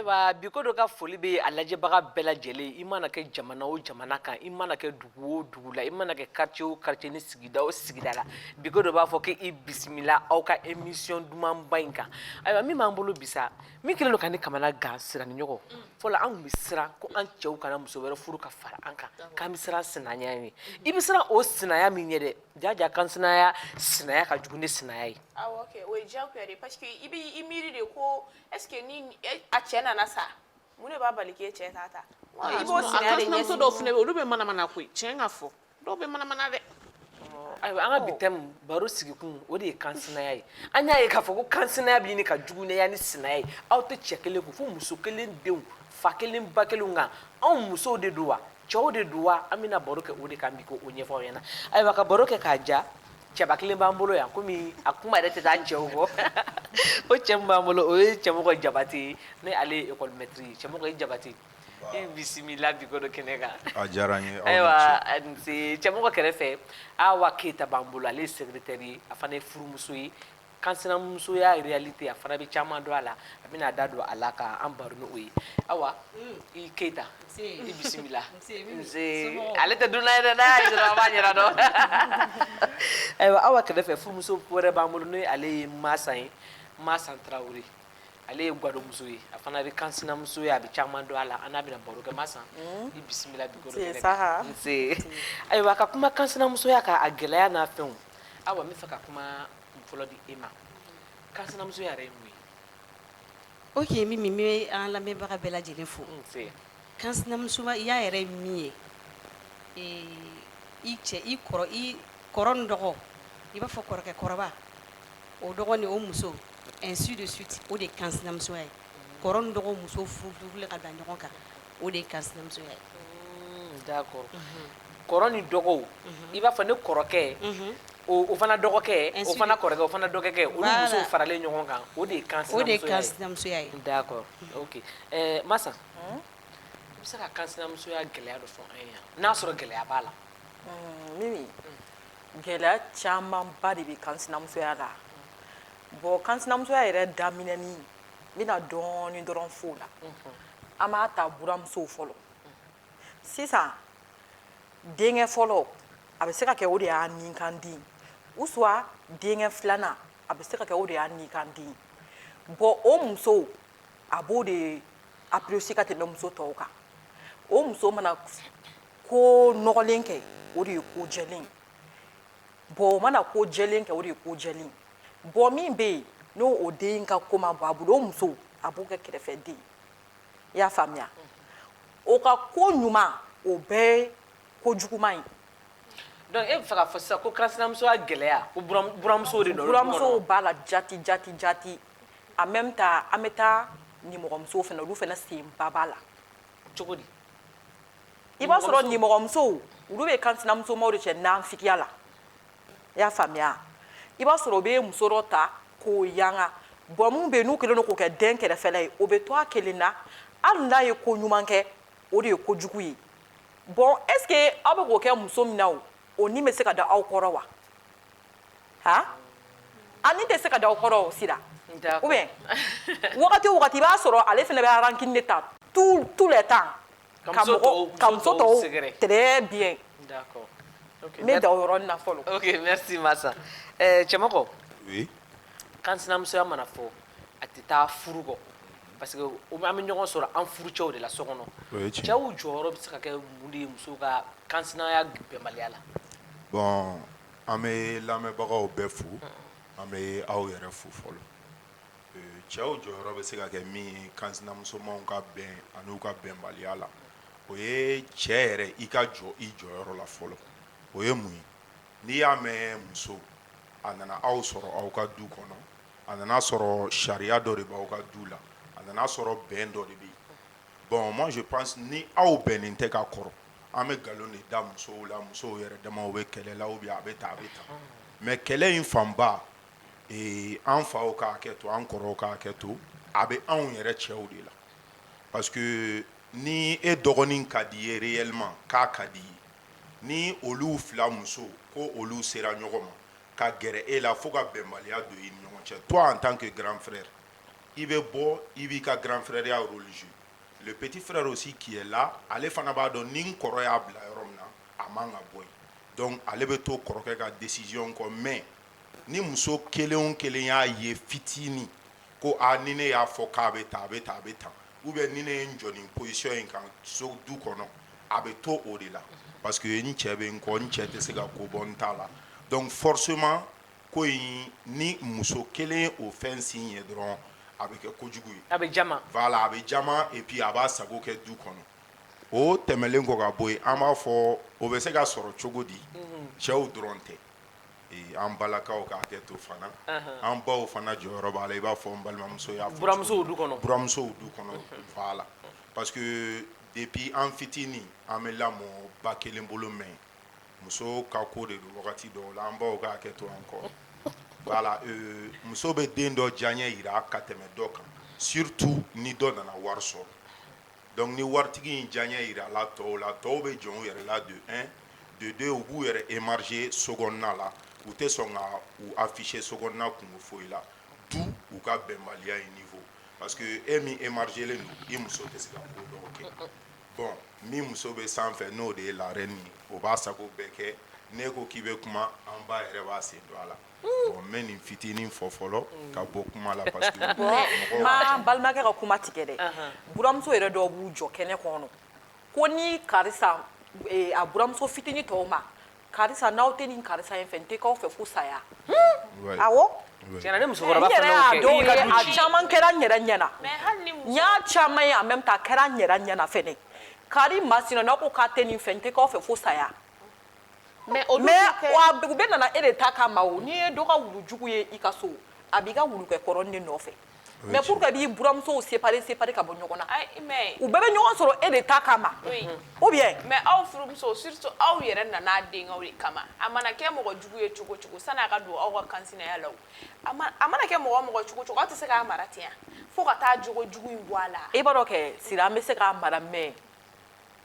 ayiwa bi ko dɔ ka foli bɛ a lajɛbaga bɛɛ lajɛlen i mana kɛ jamana o jamana kan i mana kɛ dugu o dugu la i mana kɛ quartier o quartier ni sigida o sigida la bi ko dɔ b'a fɔ k'i bisimila aw ka émission dumanba in kan ayiwa min b'an bolo bi sa min kɛlen don ka ne kamana gan siran ni ɲɔgɔn fɔlɔ an tun bɛ siran ko an cɛw kana muso wɛrɛ furu ka fara an kan k'an bɛ siran sinaya ɲɛ i bɛ siran o sinaya min ɲɛ dɛ jaja kansinaya sinaya ka jugu ni sinaya ye awɔ kɛ o ye diyagoya de ye parce que i bɛ i miiri de ko est ce que ni a cɛ nana sa mun de b'a bali k'e cɛ t'a ta i b'o sinaya de ɲɛsigi muso dɔw fana bɛ yen olu bɛ manamana ko ye tiɲɛ ka fɔ dɔw bɛ manamana dɛ ayiwa an ka bi tɛmu baro sigikun o de ye kansinaya ye an y'a ye k'a fɔ ko kansinaya bɛ ɲini ka juguneya ni sinaya ye aw tɛ cɛ kelen kun fo muso kelen denw fa kelen ba kelen nka anw musow de don wa cɛw de don wa an bɛna baro kɛ o de kan bi k'o ɲɛfɔ aw ɲɛna ayiwa ka baro kɛ k'a ja cɛba kelen b'an bolo yan komi a kuma yɛrɛ tɛ taa cɛw kɔ o cɛ min b'an bolo o ye cɛmɔgɔ jabate ye ne ale ye ekɔlimɛtiri ye cɛmɔgɔ i jabate i bisimila bi ko dɔ kɛnɛ kan a diyara n ye aw ni ce ayiwa a ni ce cɛmɔgɔ kɛrɛfɛ Awa Keyita b'an bolo ale ye secrétaire ye a fana ye furumuso ye kansinamusoya réalité a fana bɛ caman dɔn a la a bɛna a da don a la ka an baro n'o ye Awa i Keyita i bisimila nsee ale tɛ dunan ye dɛ n'a y'a ye dɔrɔn a b'a ɲɛda dɔn ayiwa Awa kɛrɛfɛ furumuso wɛrɛ b'an bolo n'o ye ale ye Maasan ye Maasan Tarawele ale ye gadonmuso ye a fana bɛ kansinamusoya a bɛ caman dɔn a la an n'a bɛna baro kɛ Maasan i bisimila ayiwa ka kuma kansinamusoya kan a gɛlɛya n'a fɛnw Awa n bɛ fɛ ka kuma fɔlɔ di e ma kansinamusoya yɛrɛ ye mun ye ok Mimi n bɛ an lamɛnbaga bɛɛ lajɛlen fo kansinamusoya yɛrɛ ye min ye i cɛ i kɔrɔ i kɔrɔ ni dɔgɔ i b'a fɔ kɔrɔkɛ kɔrɔba o dɔgɔ ni o muso ainsi de suite o de ye kansinamusoya ye kɔrɔ ni dɔgɔ muso furulen ka da ɲɔgɔn kan o de ye kansinamusoya ye kɔrɔ ni dɔgɔw i b'a fɔ ne kɔrɔkɛ o fana dɔgɔkɛ o fana kɔrɔkɛ o fana dɔgɔkɛ olu musow faralen ɲɔgɔn kan o de ye kansinamusoya ye d'accord Maasan i bɛ se ka kansinamusoya gɛlɛya dɔ fɔ an ye yan n'a sɔrɔ gɛlɛya b'a la gɛlɛya camanba de bɛ kansinamusoya la bon kansinamusoya yɛrɛ daminɛni n bɛna dɔɔni dɔrɔn f'o la an b'a ta buramusow fɔlɔ sisan denkɛ fɔlɔ a bɛ se ka kɛ o de y'a ninkan den ou soit denkɛ filanan a bɛ se ka kɛ o de y'a ninkan den bon o muso a b'o de apprécier ka tɛmɛ muso tɔw kan o muso mana ko nɔgɔlen kɛ o de ye ko jɛlen bon o mana ko jɛlen kɛ o de ye ko jɛlen bon min bɛ yen n'o o den ka ko ma bɔ a bolo o muso a b'o kɛ kɛrɛfɛ den i y'a faamuya o ka ko ɲuman o bɛɛ ye ko juguman ye donc e bɛ fɛ k'a fɔ sisan ko kansinamusoya gɛlɛya ko buramuso de don buramusow b'a la jati jati jati en même temps an bɛ taa nimɔgɔmusow fana olu fana senba b'a la cogo di i b'a sɔrɔ nimɔgɔmusow olu bɛ kansinamusomaw de cɛ nafigiya la i y'a faamuya i b'a sɔrɔ o bɛ muso dɔ ta k'o yanga bon min bɛ yen n'u kɛlen don k'o kɛ den kɛrɛfɛla ye o bɛ to a kelen na hali n'a ye ko ɲuman kɛ o de ye ko jugu ye bon est-ce que aw bɛ k'o kɛ muso min na o ni bɛ se ka da aw kɔrɔ wa han a ni tɛ se ka da aw kɔrɔ o sira wagati o wagati i b'a sɔrɔ ale fana bɛ rancune de ta tout le temps ka muso tɔw sɛgɛrɛ très bien d'accord ok n bɛ dan o yɔrɔ nin na fɔlɔ ok merci Masa ɛɛ Cɛmɔgɔ oui kansinamusoya mana fɔ a tɛ taa furu kɔ parce que an bɛ ɲɔgɔn sɔrɔ an furucɛw de la so kɔnɔ o ye tiɲɛ cɛw jɔyɔrɔ bɛ se ka kɛ mun de ye musow ka kansinaya bɛnbaliya la bon an bɛ lamɛnbagaw bɛɛ fo an bɛ aw yɛrɛ fo fɔlɔ cɛw jɔyɔrɔ bɛ se ka kɛ min ye kansinamusomaw ka bɛn ani u ka bɛnbaliya la o ye cɛ yɛrɛ i ka jɔ i jɔyɔrɔ la fɔlɔ o ye mun ye n'i y'a mɛn muso a nana aw sɔrɔ aw ka du kɔnɔ a nana sɔrɔ sariya dɔ de b' aw ka du la a nana sɔrɔ bɛn dɔ de bɛ yen bon moi je pense ni aw bɛnnen tɛ ka kɔrɔ an bɛ nkalon de da musow la musow yɛrɛ damaw bɛ kɛlɛ la ou bien a bɛ tan a bɛ tan mais kɛlɛ in fanba ee an faw ka hakɛ to an kɔrɔw ka hakɛ to a bɛ anw yɛrɛ cɛw de la parce que ni e dɔgɔnin ka di ye réellement k'a ka di ye ni olu fila muso ko olu sera ɲɔgɔn ma ka gɛrɛ e la fo ka bɛnbaliya don i ɲɔgɔn cɛ toi en tant que grand frère i bɛ bɔ i b'i ka grand frèreya rôle jouer le petit frère aussi qui est là ale fana b'a dɔn ni n kɔrɔ y'a bila yɔrɔ min na a man ka bɔ yen donc ale bɛ to kɔrɔkɛ ka décision kɔ mais ni muso kelen o kelen y'a ye fitinin ko a ni ne y'a fɔ k'a bɛ tan a bɛ tan a bɛ tan ou bien ni ne ye n jɔ nin position in kan so du kɔnɔ a bɛ to o de la parce que n cɛ bɛ n kɔ n cɛ tɛ se ka ko bɔ n ta la donc forcément ko in ni muso kelen o fɛn sin ye dɔrɔn a bɛ kɛ kojugu ye a bɛ jama a bɛ jama et puis a b'a sago kɛ du kɔnɔ o tɛmɛlen kɔ ka bɔ yen an b'a fɔ o bɛ se ka sɔrɔ cogo di cɛw dɔrɔn tɛ an balakaw ka hakɛ to fana an baw fana jɔyɔrɔ b'a la i b'a fɔ n balimamuso y'a fɔ buramusow du kɔnɔ voilà parce que depuis an fitinin an bɛ lamɔ ba kelen bolo mais muso ka ko de don wagati dɔw la an baw ka hakɛ to an kɔ voilà muso bɛ den dɔ diyaɲɛ yira ka tɛmɛ dɔ kan surtout ni dɔ nana wari sɔrɔ Donc ni waritigi in diyaɲɛ yirala tɔw la tɔw bɛ jɔn u yɛrɛ la de un de deux u b'u yɛrɛ émarger sokɔnɔna la u tɛ sɔn ka u afficher sokɔnɔna kunko foyi la du u ka bɛnbaliya in niveau parce que e min émargélen don i muso tɛ se ka ko dɔw kɛ bon min muso bɛ sanfɛ n'o de ye la reine ye o b'a sago bɛɛ kɛ ne ko k'i bɛ kuma an ba yɛrɛ b'a sen don a la n bɛ nin fitinin fɔ fɔlɔ ka bɔ kuma la n ma balimakɛ ka kuma tigɛ dɛ buramuso yɛrɛ dɔw b'u jɔ kɛnɛ kɔnɔ ko ni karisa a buramuso fitinin tɔw ma karisa n'aw tɛ nin karisa in fɛ n tɛ k'aw fɛ fo saya musokɔrɔba caman kɛra n yɛrɛ ɲɛna n y'a caman ye en même temps a kɛra n yɛrɛ ɲɛna fɛnɛ kari masina n'aw ko k'aw tɛ nin fɛ n tɛ k'aw fɛ fo saya mais olu mais tɛ kɛ- wa u bɛɛ nana e de ta kama o n'i ye dɔ ka wulu jugu ye i ka so a b'i ka wulukɛ kɔrɔnin de nɔfɛ mais tiɲɛ. pourquoi b'i buramusow séparer séparer ka bɔ ɲɔgɔn na Ayi, mais u bɛɛ bɛ ɲɔgɔn sɔrɔ e de ta kama Oui. ou bien mais aw furumuso surtout aw yɛrɛ nana a denkɛw de kama a mana kɛ mɔgɔ jugu ye cogo cogo sani a ka don aw ka kansinaya la o a ma- a mana kɛ mɔgɔ o mɔgɔ cogo cogo aw tɛ se k'a mara ten yan fo ka taa jogo jugu in bɔ a la i b'a dɔn kɛ sira an bɛ se k'a mara mais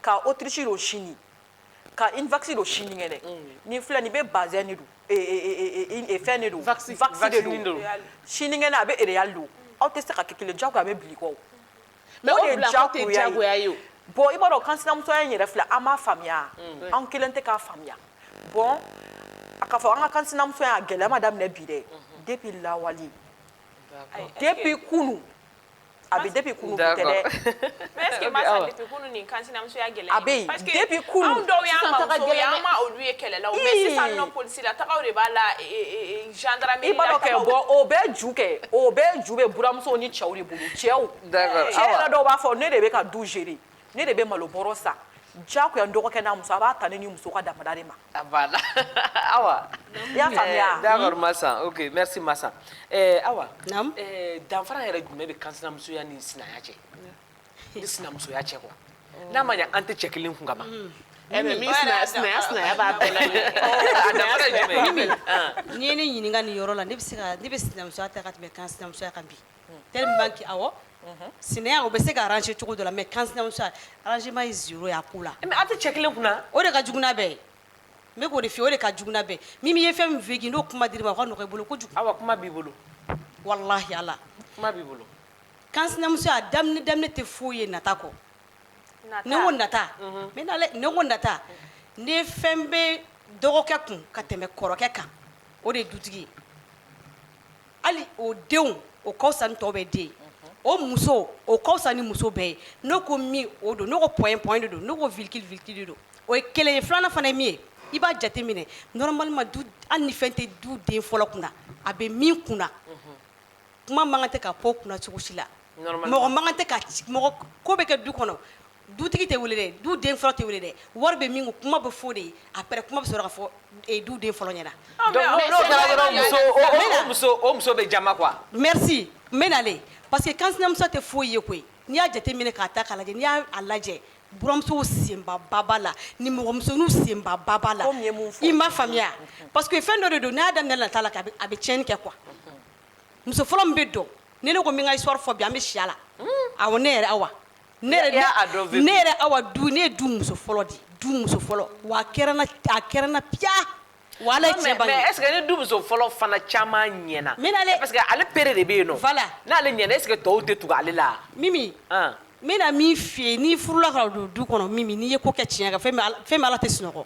ka Autriche don sini ka Uniwax don sinikɛnɛ ni filɛ nin bɛɛ bazin de don fɛn de don sinikɛnɛ a bɛɛ Real don aw tɛ se ka kɛ kelen jagoya a bɛ bila kɔ mais bon i b'a dɔn kansinamusoya in yɛrɛ filɛ an m'a faamuya an kelen tɛ k'a faamuya bon a ka fɔ an ka kansinamusoya gɛlɛya ma daminɛ bi dɛ depuis lawale depuis kunun a bɛ depuis kunu tɛ dɛ mais est ce que Masa depuis kunu nin kansinamusoya gɛlɛya a bɛ yen depuis kunu anw dɔw y'an bamuso ye an ma olu ye kɛlɛ la mais sisan nɔ polisi la tagaw de b'a la gendarmerie la i b'a dɔn kɛ bon o bɛɛ ju kɛ o bɛɛ ju bɛ buramusow ni cɛw de bolo cɛw cɛ yɛrɛ dɔw b'a fɔ ne de bɛ ka du gérer ne de bɛ malo bɔrɔ san jagoya n dɔgɔkɛ n'a muso a b'a ta ne ni muso ka damada de ma Voilà Awa i y'a faamuya wa, d'accord Masa, ok merci Masa, ɛɛ Awa, naamu, ɛɛ danfara yɛrɛ jumɛn bɛ kansinamusoya ni sinaya cɛ ni sinamusoya cɛ quoi n'a ma ɲɛ an tɛ cɛ kelen kun ka ban, un, ɛ mais min sinaya sinaya sinaya b'a bɛɛ la, a danfara ye jumɛn ye, Mimi, n'i ye ne ɲininka nin yɔrɔ la ne bɛ se ka ne bɛ sinamusoya ta ka tɛmɛ kansinamusoya kan bi sinaya o bɛ se ka arranger cogo dɔ la mais kansinamusoya arrangement ye zéro ye a ko la a tɛ cɛ kelen kunna o de ka jugu n'a bɛɛ ye n bɛ k'o de f'i ye o de ka jugu n'a bɛɛ ye Mimi ye fɛn min f'i ye n'o kuma dir'i ma o ka nɔgɔ i bolo ko kuma b'i bolo walahi Ala kuma b'i bolo kansinamusoya daminɛ tɛ foyi ye nata kɔ ne ko nata ne ko nata ne fɛn bɛ dɔgɔkɛ kun ka tɛmɛ kɔrɔkɛ kan o de ye dutigi ye Hali o denw o ka fisa ni tɔw bɛɛ den ye, o muso o ka fisa ni muso bɛɛ ye, ne ko min o don ne ko point point de don ne ko virgule virgule de don o ye kelen ye, filanan fana ye min ye i b'a jateminɛ normalement du hali ni fɛn tɛ du den fɔlɔ kunna a bɛ min kunna kuma man kan tɛ ka f'o kunna cogo si la, mɔgɔ man kan tɛ ka mɔgɔ ko bɛ kɛ du kɔnɔ dutigi tɛ wele dɛ du den fɔlɔ tɛ wele dɛ wari bɛ min kun kuma bɛ f'o de ye après kuma bɛ sɔrɔ ka fɔ eh, du den fɔlɔ ɲɛna Donc, n'o- n'o kɛra dɔrɔn muso- o- o- o muso- o muso bɛ jama quoi merci n bɛ nalen parce que kansinamuso tɛ foyi ye koyi n'i y'a jateminɛ k'a ta k'a lajɛ n'i y'a a lajɛ buramusow senbaba b'a la nimɔgɔmusoninw senbaba b'a la i ma faamuya parce que fɛn dɔ de don n'a daminɛ nata la k'a bɛ- a bɛ tiɲɛni kɛ quoi muso fɔlɔ min bɛ dɔn ni ne ko n bɛ n ka histoire fɔ bi an bɛ si a la awɔ ne yɛrɛ awa ne yɛrɛ y'a a dɔn VP. ne yɛrɛ awa du ne ye du muso fɔlɔ de ye, du muso fɔlɔ wa a kɛra n na a kɛra n na piya wa Ala ye tiɲɛ bange mais est ce que ni du muso fɔlɔ fana caman ɲɛna Min na dɛ. parce que ale pere de bɛ yen nɔ Voilà. n'ale ɲɛna est ce que tɔw tɛ tugu ale la mimi An. n bɛna min f'i ye n'i furula ka don du kɔnɔ mimi n'i ye ko kɛ tiɲɛ kan fɛn min Ala- fɛn min Ala tɛ sunɔgɔ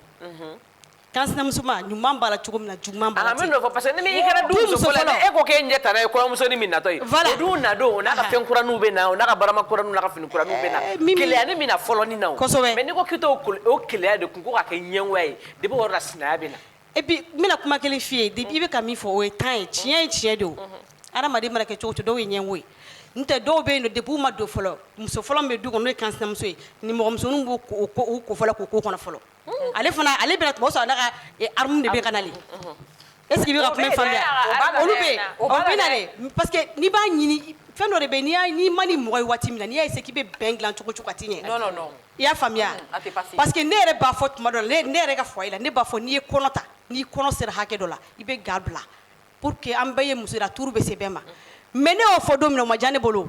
Kansinamusoma ɲuman b'a la cogo min na juguman b'a la ten n bɛ n'o fɔ parce que ni i kɛra du muso fɔlɔ ye e ko k'e ɲɛ ye kɔɲɔmusonin min natɔ ye o dun na don o n'a ka fɛn kuraninw bɛ na o n'a ka barama kuraninw n'a ka fini kuraninw bɛ na keleyanin bɛ na fɔlɔ nin na kosɛbɛ mais n'i ko k'i t'o keleya de tun ko k'a kɛ ɲɛgoya ye depuis o yɔrɔ la sinaya bɛ na et puis n bɛna kuma kelen f'i ye i bɛ ka min fɔ o ye tan ye tiɲɛ ye tiɲɛ don adamaden mana kɛ cogo o cogo dɔw ye ɲɛgo ye n tɛ dɔw bɛ yen nɔ depuis u ma don fɔlɔ muso fɔlɔ bɛ du kɔnɔ n'o ye kansinamuso ye nimɔgɔmusoninw b'o ko fɔlɔ k'o ko kɔnɔ fɔlɔ ale fana ale bɛ na tuma o sɔrɔ n'a ka armée de bɛ ka nalen est ce que i bɛ ka kuma faamu olu bɛ yen o bɛ na dɛ parce que n'i b'a ɲini fɛn dɔ de bɛ yen n'i man di mɔgɔ ye waati min na n'i y'a essayé k'i bɛ bɛn dilan cogo o cogo a tɛ ɲɛ i y'a faamuya parce que ne yɛrɛ b'a fɔ tuma dɔ la ne yɛrɛ ka foyer la ne b'a fɔ n'i ye kɔnɔ ta n'i kɔnɔ sera hakɛ dɔ la i bɛ ga bila pour que an bɛɛ ye muso ye tour bɛ se bɛɛ ma mais ne y'o fɔ don min na o ma diya ne bolo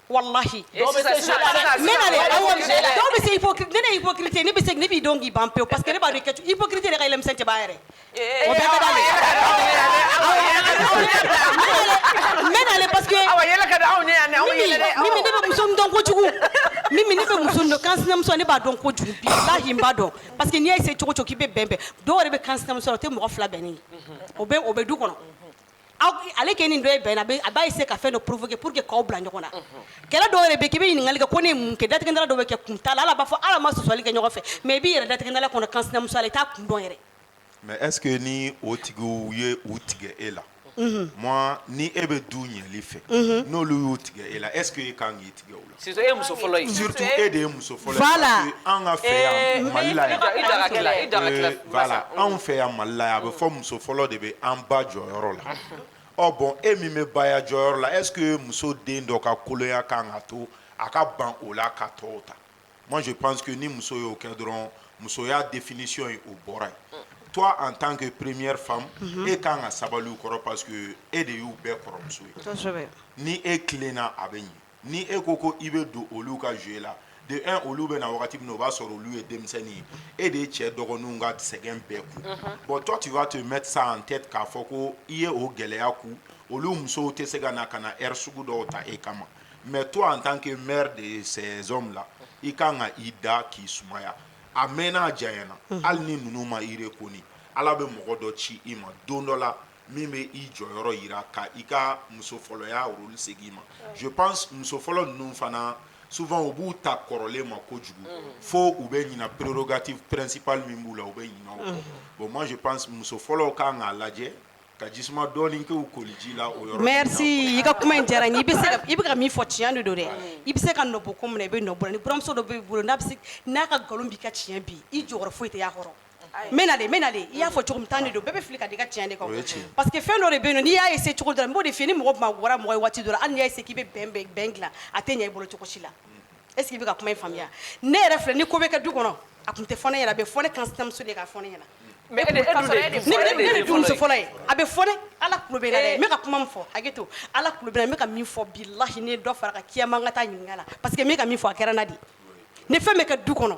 walahi dɔw bɛ se ipokirite ne bɛ ne b'i dɔn k'i ban pe paseke ne b'a kɛ ipkirite ka yɛlɛ tɛ b'a yɛrɛ kojugu ne bɛ muso don kanmuso ne b'a dɔn ko kojuguhi b'a dɔn pa que n'i ye se cogo cogo k'i bɛ bɛn dɔw de bɛ kanmuso o tɛ mɔgɔ fila bɛnnen o bɛ du kɔnɔ aw ale kɛ nin dɔ ye bɛnna bɛ- a b'a essayer ka fɛn dɔ provoquer pour que k'aw bila ɲɔgɔn na kɛlɛ dɔw yɛrɛ bɛ k'i bɛ ɲininkali kɛ ko ne ye mun kɛ datigɛ dala dɔw bɛ kɛ kun t'a la ala b'a fɔ ala ma sɔsɔli kɛ ɲɔgɔn fɛ mais i b'i yɛrɛ datigɛ dala kɔnɔ kansinamusoya la i t'a kun dɔn yɛrɛ mais est ce que ni o tigiw ye u tigɛ e la Mhm. moi ni e bɛ du ɲɛli fɛ Mhm. n'olu y'u tigɛ e la est ce que e kan k'i tigɛ o la Surtout e muso fɔlɔ e de ye muso fɔlɔ ye an ka fɛ yan mali la anw fɛ yan mali la yan a bɛ fɔ muso fɔlɔ de bɛ an ba jɔyɔrɔ la ɔ bon e min bɛ baya jɔyɔrɔ la est ce que muso den dɔ ka kolonya kan ka to a ka ban o la ka tɔw ta moi je pense que ni muso y'o kɛ dɔrɔn musoya définition ye o bɔra yen toi en tant que première femme e kan ka sabali u kɔrɔ parce que e de y'u bɛɛ kɔrɔmuso ye ni e tilenna a bɛ ɲɛ ni e ko ko i bɛ don olu ka jeu la de un olu bɛ na wagati min na o b'a sɔrɔ olu ye denmisɛnnin ye e de ye cɛ dɔgɔninw ka sɛgɛn bɛɛ kun bon toi tu vas te mettre ça en tête k'a fɔ ko i ye o gɛlɛya kun olu musow tɛ se ka na ka na air sugu dɔw ta e kama mais toi en tant que mère de ces hommes là i kan ka i da k'i sumaya a mɛnna a janyana hali ni ninnu ma i reconnu ala bɛ mɔgɔ dɔ ci i ma don dɔ la min bɛ i jɔyɔrɔ yira ka i ka muso fɔlɔya rôle segin i ma je pense muso fɔlɔ ninnu fana souvent u b'u ta kɔrɔlen ma kojugu fo u bɛ ɲina prérogative principale min b'u la u bɛ ɲina o kɔ bon moi je pense muso fɔlɔw ka kan k'a lajɛ ka jisuma dɔɔni kɛ u koliji la o yɔrɔ ninnu na merci i ka kuma in diyara n ye i bɛ se ka i bɛ ka min fɔ tiɲɛ de don dɛ i bɛ se ka nɔbɔ ko min na i bɛ nɔbɔ o la ni buramuso dɔ b'i bolo n'a bɛ se n'a ka nkalon b'i ka tiɲɛ bin i jɔyɔrɔ foyi tɛ y'a kɔrɔ Mɛlen mɛnlen i y'a fɔ cogo min tan de don bɛɛ bɛ fili ka d'i ka tiɲɛ de kan parce que fɛn dɔ de bɛ yen n'i y'a essayer cogo dɔ la n b'o de f'i ye ni mɔgɔ ma wara mɔgɔ ye waati dɔ la hali n'i y'a essayer k'i bɛ bɛn dilan a tɛ ɲɛ i bolo cogo si la est ce que i bɛ ka kuma in faamuya ne yɛrɛ filɛ ni ko bɛ kɛ du kɔnɔ a tun tɛ fɔ ne ɲɛna a bɛ fɔ ne kansinamuso de ye k'a fɔ ne ɲɛna ne de du muso fɔlɔ ye a bɛ fɔ ala n bɛ ka kuma min fɔ hakɛ to ala n bɛ ka min fɔ bilahi ne ye dɔ fara kan kiyama n ka taa ɲininka la parce que n bɛ ka min fɔ a kɛra n na de ni fɛn bɛ kɛ du kɔnɔ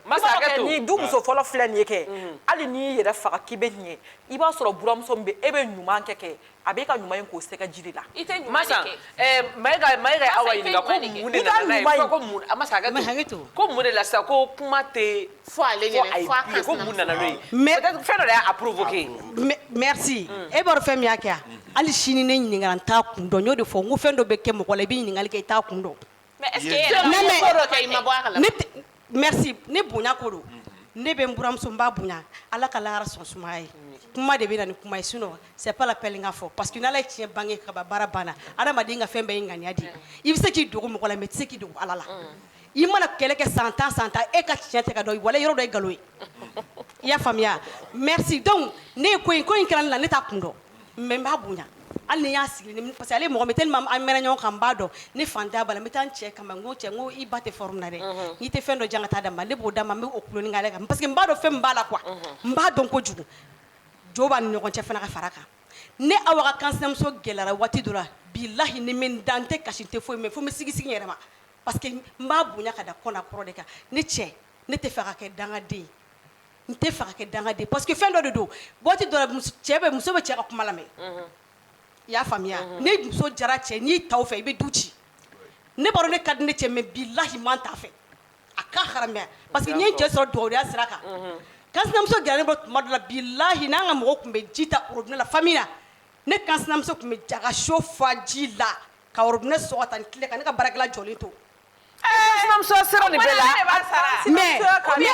ne du muso fɔlɔ filɛ nin ye kɛ hali n'i y'i yɛrɛ faga k'i bɛ ɲɛ i b'a sɔrɔ buramuso min bɛ e bɛ ɲuman kɛ kɛ a bɛ ka ɲuman in k'o sɛgɛ jiri la i tɛ ma sa Mayiga Mayiga awa ɲininka ko mun de la sisan ko kuma tɛ fɔ ale ɲɛna ko mun nana n'o ye mais fɛn dɔ y'a provoquer merci e b'a dɔn fɛn min y'a kɛ hali sini ne ɲininkara n t'a kun dɔn n y'o de fɔ n ko fɛn dɔ bɛ kɛ mɔgɔ la i bɛ ɲininkali kɛ i t'a kun dɔn Ne bonya ko don ne bɛ n buramuso n b'a bonya ala ka lahara sɔn sumaya ye kuma de bɛ na ni kuma ye sinon c'est pas la peine k'a fɔ parce que n'ala ye tiɲɛ bange ka ban baara banna adamaden ka fɛn bɛɛ ye ŋaniya de ye i bɛ se k'i dogo mɔgɔ la mais i tɛ se k'i dogo ala la i mana kɛlɛ kɛ san tan san tan e ka tiɲɛ tɛ ka dɔn wala yɔrɔ dɔ ye nkalon ye i y'a faamuya merci donc ne ko in ko in kɛra n na ne t'a kun dɔn mais n b'a bonya hali ni n y'a sigi ni parce que ale mɔgɔ min tellement an mɛnna ɲɔgɔn kan n b'a dɔn ne fantanya b'a la n bɛ taa n cɛ kama n ko cɛ n ko i ba tɛ forme na dɛ n'i tɛ fɛn dɔ di yan ka taa d'a ma ne b'o d'a ma n bɛ o kuloni k'ale kan parce que n b'a dɔn fɛn min b'a la quoi n b'a dɔn kojugu jo b'a ni ɲɔgɔn cɛ fana ka fara a kan ne Awa ka kansinamuso gɛlɛyara waati dɔ la bilahi ne bɛ n da n tɛ kasi n tɛ foyi mais fo n bɛ sigisigi n yɛrɛ ma parce que n b'a bonya ka da kɔ n'a kɔrɔ de kan ne cɛ ne tɛ fɛ a ka kɛ dangaden ye N tɛ fɛ ka kɛ dangaden ye parce que fɛn dɔ de don waati dɔ la mus cɛ bɛ muso bɛ cɛ ka kuma lamɛn, unhun, i y'a faamuya, unhun, ni muso diyara cɛ ye n'i ta o fɛ i bɛ du ci, ne b'a dɔn ne ka di ne cɛ ye mais bilahi n ma n t'a fɛ a ka haramuya parce que n ye n cɛ sɔrɔ dugawudenya sira kan, unhun, kansinamuso gɛrɛlen bɛ tuma dɔ la bilahi n'an ka mɔgɔw tun bɛ ji ta robinet la famille la ne kansinamuso tun bɛ taa ka seau fa ji la ka robinet sɔgɔ ka taa ni clé ye ka ne ka baarakɛla jɔlen to sinamuso sera nin bɛɛ la mais n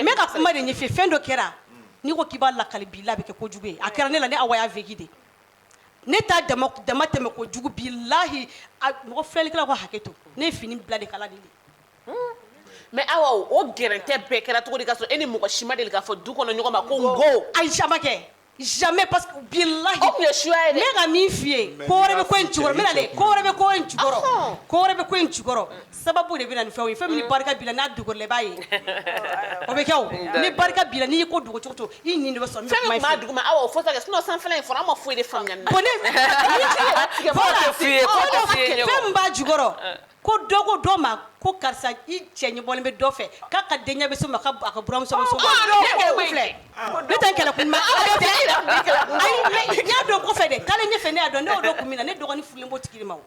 bɛ ka kuma de ɲɛf'i ye fɛn dɔ kɛra n'i ko k'i b'a lakali bi la a bɛ kɛ kojugu ye a kɛra ne la ne Awa y'a vécu de ne ta dama damatɛmɛ kojugu bilahi a mɔgɔ filɛlikɛlaw ka hakɛ to ne ye fini bila de kala de mais awa o gɛrɛntɛ bɛɛ kɛra cogo di k'a sɔrɔ e ni mɔgɔ si ma deli k'a fɔ du kɔnɔ ɲɔgɔn ma ko n ko ayi sa ma kɛ Jamais parce que bilahi o tun ye suya ye dɛ, n bɛ ka min f'i ye ko wɛrɛ bɛ ko in jukɔrɔ n bɛna dɛ ko wɛrɛ bɛ ko in jukɔrɔ Ɔhɔn. ko wɛrɛ bɛ ko in jukɔrɔ sababu de bɛ na ni fɛnw ye fɛn min ni barika b'i la n'a dogor'i la i b'a ye o bɛ kɛ o ni barika b'i la n'i y'i ko dogo cogo o cogo i ɲin de bɛ sɔn n bɛ fɛn kuma min in tun b'a f'i ye. duguma awa o fɔ sa kɛ sinon sanfɛla in fɔra an ma foyi de faamuya nin na Bon ne- Foyi tɛ f'i ye, foyi tɛ f'i ye ɲɔgɔn. fɛn min b'a jukɔrɔ Ko dɔ ko dɔ ma ko karisa i cɛ ɲɛ bɔlen bɛ dɔ fɛ k'a ka denkɛ bɛ se ma ka a ka buranmuso ma ko ne tɛ kɛlɛ kun dɔn Ala bɛ fɛ ayi mais n y'a dɔn kɔfɛ dɛ taalen ɲɛfɛ ne y'a dɔn ne y'o dɔn kun min na ne dɔgɔnin furulen b'o tigi de ma o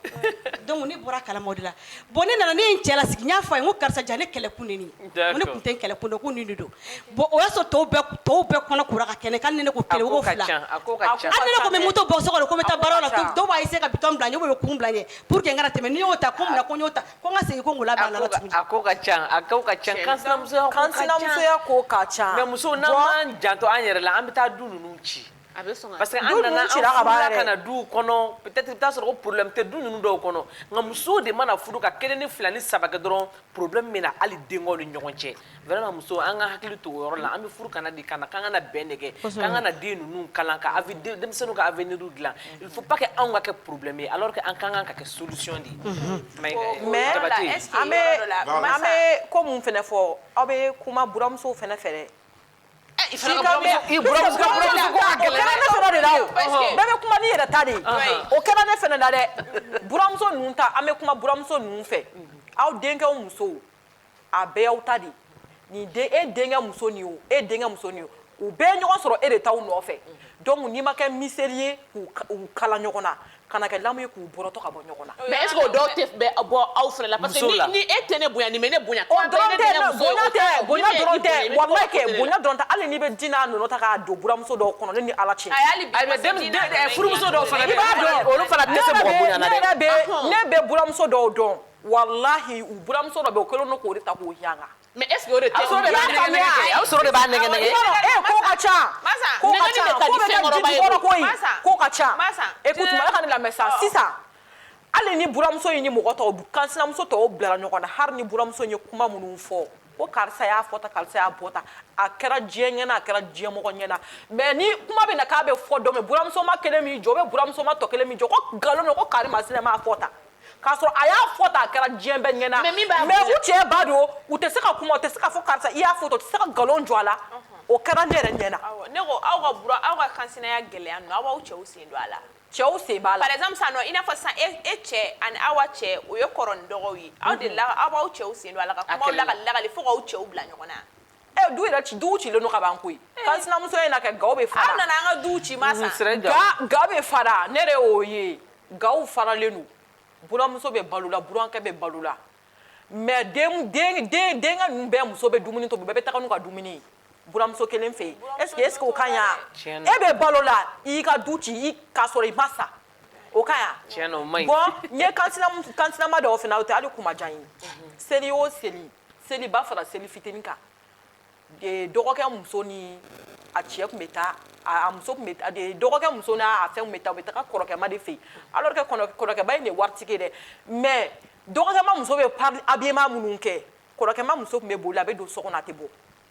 donc ne bɔra a kalama o de la bon ne nana ne ye n cɛ lasigi n y'a fɔ a ye n ko karisa jaa ne kɛlɛ kun de ye nin ye d'accord n ko ne kun tɛ n kɛlɛ kun dɔn ko nin de don Bon o y'a sɔrɔ tɔw bɛɛ k tɔw bɛɛ kɔnɔ kora ka kɛ ne kan hali ni ne ko 1 u ko 2 hali ni ne kun be moto bɔ so kɔnɔ ko n be taa baara la dɔw b'a essayer ka bidon bila n ɲɛ ou bien kurun bila n ɲɛ pour que n kana tɛmɛ n'i y'o ta ko munna ko n y'o ta ko n ka segin ko n k'o labɛn a nɔ la tuguni a ko ka can a ko ka can kansinamusoya ko ka can kansinamusoya ko ka can mais musow n'an m'an janto an yɛrɛ la an be taa du ninnu ci A bɛ sɔn ka parce que an nana an furula ka na duw kɔnɔ peut être i bɛ taa sɔrɔ ko problème tɛ du ninnu dɔw kɔnɔ nka musow de mana furu ka kelen ni fila ni saba kɛ dɔrɔn problème bɛ na hali denkɛw ni ɲɔgɔn cɛ vraiment musow an ka hakili to o yɔrɔ la an bɛ furu ka na de ka na k'an ka na bɛn de kɛ k'an ka na den ninnu kalan ka avi denmisɛnninw ka avenir dilan il faut pas que anw ka kɛ problème ye alors que an ka kan ka kɛ solution de ye mais an bɛ ko min fana fɔ aw bɛ kuma buramusow fana fɛ dɛ i fana ka buramuso i buramuso ka buramuso ko ka gɛlɛn dɛ o kɛra ne fana de la o bɛɛ bɛ kuma n'i yɛrɛ ta de ye o kɛra ne fana la dɛ buramuso ninnu ta an bɛ kuma buramuso ninnu fɛ aw denkɛw musow a bɛɛ y'aw ta de ye nin den e denkɛ muso nin o e denkɛ muso nin o u bɛɛ ɲɔgɔn sɔrɔ e de taa u nɔfɛ donc n'i ma kɛ miseli ye k'u kala ɲɔgɔn na kana kɛ lamu ye k'u bɔrɔtɔ ka bɔ ɲɔgɔn na. Mais est ce que o dɔw tɛ bɔ aw fana la parce que ni e tɛ ne bonya nin bɛ ne bonya. O dɔrɔn tɛ non bonya tɛ bonya dɔrɔn tɛ walayi kɛ bonya dɔrɔn tɛ hali n'i bɛ di n'a nɔnɔ ta k'a don buramuso dɔw kɔnɔ ne ni Ala cɛ. Ayi hali bi i bɛ se k'i da don ɛ furumuso dɔw fana bɛ yen. I b'a dɔn olu fana tɛ se mɔgɔ bonya na dɛ. Ne yɛrɛ bɛ ne yɛrɛ bɛ buramuso dɔw dɔn walayi u buramuso dɔ bɛ yen o kɛlen don k'o de ta k'o yanga. Mais est-ce que o de tɛ muso y'a faamuya a bɛ sɔrɔ de b'a nɛgɛ nɛgɛ ee ko ka ca ko ka ca ko bɛ kɛ jijukɔrɔ ko ye ko ka ca écoute mɔgɔ ka ne lamɛn sa sisan hali ni buramuso in ni mɔgɔ tɔw kansinamuso tɔw bilara ɲɔgɔn na hali ni buramuso in ye kuma minnu fɔ ko karisa y'a fɔ tan karisa y'a bɔ tan a kɛra diɲɛ ɲɛna a kɛra diɲɛ mɔgɔ ɲɛna mais ni kuma bɛ na k'a bɛ fɔ dɔ mɛ buramuso ma kelen min jɔ ou bien buramuso ma tɔ kelen min jɔ ko nkalon don ko karimasina m'a fɔ tan k'a sɔrɔ a y'a fɔ tan a kɛra diɲɛ bɛɛ ɲɛna mais u cɛ ba don u tɛ se ka kuma u tɛ se k'a fɔ karisa i y'a fɔ tan u tɛ se ka nkalon jɔ a la o kɛra ne yɛrɛ ɲɛna ne ko aw ka bura aw ka kansinaya gɛlɛya ninnu aw b'aw cɛw sen don a la cɛw sen b'a la par exemple sisan nɔ i n'a fɔ sisan e, e cɛ ani aw ka cɛ o ye kɔrɔ ni dɔgɔw ye aw de la aw b'aw cɛw sen don a la ka kumaw lagali fo k'aw cɛw bila ɲɔgɔn na ɛ du yɛrɛ ci duw cilen don ka ban koyi eh. kansinamusoya na kɛ gaw bɛ fara aw nana an ka duw ci ma sa ga ga bɛ fara ne yɛrɛ y'o ye gaw faralen don buramuso bɛ balo la burankɛ bɛ balo la mais den den den denkɛ ninnu bɛɛ muso bɛ dumuni tobi bɛɛ bɛ taga n'u ka dumuni ye buramuso kelen fɛ yen est-ce que est-ce que o ka ɲa e bɛ balo la i y'i ka du ci k'a sɔrɔ i ma sa o ka ɲa tiɲɛ na o man ɲi bon n ye kansinama dɔw fana o tɛ hali kuma diya n ye seli o seli seliba fara seli fitini kan dɔgɔkɛ muso ni a cɛ tun bɛ taa a muso tun bɛ dɔgɔkɛ muso n'a a fɛn tun bɛ taa u bɛ taa kɔrɔkɛma de fɛ yen alors que kɔrɔkɛba in de waritigi dɛ mais dɔgɔkɛma muso bɛ habillement minnu kɛ kɔrɔkɛma muso tun bɛ boli a bɛ don so kɔnɔ a tɛ bɔ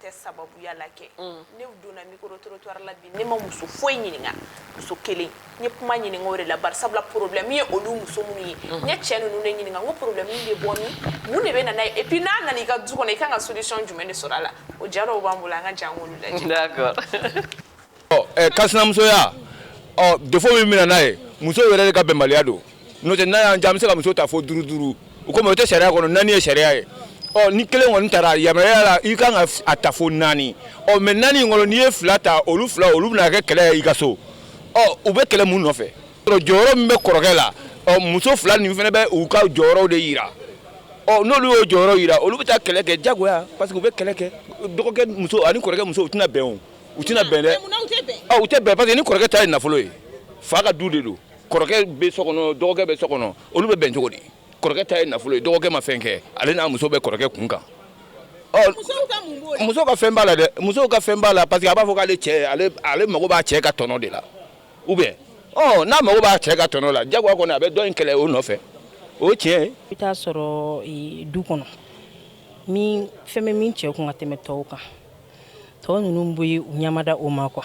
tɛ sababuya la kɛ mm. ne donna micro-trottoir la bi ne ma muso foyi ɲininka muso kelen n ye kuma ɲininka o de la bari sabula problème ye olu muso minnu ye mm. n ye cɛ ninnu de ɲininka n ko problème bɛ bɔ min mun de bɛ na n'a ye et puis n'a nana i ka du kɔnɔ i kan ka solution jumɛn de sɔrɔ a la o jaw b'an bolo an ka jɛ k'olu lajɛ d'accord ɔ ɛ kansinamusoya ɔ défaut min bɛ na n'a ye muso yɛrɛ de ka bɛnbaliya don n'o tɛ n'a y'an diya an bɛ se ka muso ta fo duuru duuru o komi o tɛ sariya kɔnɔ naani ye sariya ye ɔ ni kelen kɔni tara yamaruya la i kan ka a ta fo naani ɔ mais naani in kɔnɔ n'i ye fila ta olu fila olu bɛna kɛ kɛlɛ ye i ka so ɔ u bɛ kɛlɛ mun nɔfɛ jɔyɔrɔ min bɛ kɔrɔkɛ la ɔ muso fila nin fana bɛ u ka jɔyɔrɔw de yira ɔ n'olu y'o jɔyɔrɔ yira olu bɛ taa kɛlɛ kɛ jagoya parce que u bɛ kɛlɛ kɛ dɔgɔkɛ muso ani kɔrɔkɛ muso u tɛna bɛn o u tɛna bɛn dɛ ah, u tɛ bɛn parce que ni kɔrɔkɛ ta ye nafolo ye fa ka du de don kɔrɔkɛ bɛ so kɔnɔ dɔgɔkɛ bɛ so kɔnɔ olu bɛ bɛn cogo di kɔrɔkɛ ta ye nafolo ye dɔgɔkɛ ma fɛn kɛ ale n'a muso bɛ kɔrɔkɛ kun kan muso ka fɛn b'a la dɛ musow ka fɛn b'a la parce que a b'a fɔ k'ale cɛ ale mago b'a cɛ ka tɔnɔ de la ou bien ɔ n'a mago b'a cɛ ka tɔnɔ la jagoya kɔni a bɛ dɔ in kɛlɛ o nɔfɛ o ye tiɲɛ ye i bɛ t'a sɔrɔ du kɔnɔ min fɛn bɛ min cɛ kun ka tɛmɛ tɔw kan tɔw ninnu bɛ u ɲamada o ma quoi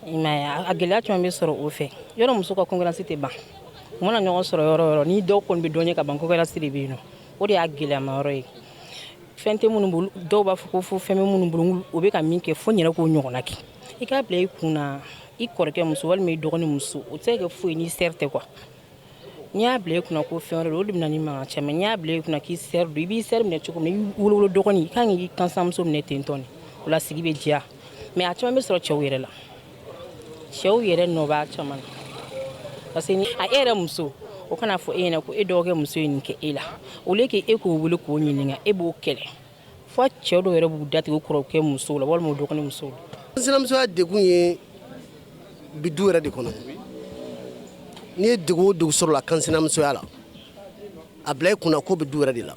a gɛlɛya caman bɛ sɔrɔ o fɛ yɔrɔ muso ka concurrence tɛ ban u mana ɲɔgɔn sɔrɔ yɔrɔ o yɔrɔ ni dɔw kɔni bɛ dɔn ye ka ban concurrence de bɛ yen o de y'a gɛlɛyama yɔrɔ ye fɛn tɛ minnu bolo dɔw b'a fɔ ko fo fɛn bɛ minnu bolo u bɛ ka min kɛ fo n yɛrɛ k'o ɲɔgɔn kɛ i k'a bila i kun na i kɔrɔkɛ muso walima i dɔgɔnin muso o tɛ kɛ foyi ye n'i sœur tɛ quoi n'i y'a bila i kunna ko fɛn wɛrɛ don o de bɛ na ni mankan caman ye, n'i y'a bila i kunna k'i sœur don, i b'i sœur minɛ cogo min i wolo wolo dɔgɔnin i ka kan k'i kansinamuso minɛ ten dɔrɔn de, o la sigi bɛ diya mais a caman bɛ sɔrɔ cɛw yɛrɛ la, cɛw yɛrɛ nɔ b'a caman na parce que ni a e yɛrɛ muso o kana fɔ e ɲɛna ko e dɔgɔkɛ muso ye nin kɛ e la au lieu que e k'o wele k'o ɲininka e b'o kɛlɛ fo cɛ dɔw yɛrɛ b'u da tigɛ kɔrɔkɛ musow la walima dɔgɔnin musow la kansinamusoya degun ye bi du yɛrɛ de kɔnɔ n'i ye degun o degun sɔrɔ la kansinamusoya la a bila i kunna k'o bɛ du yɛrɛ de la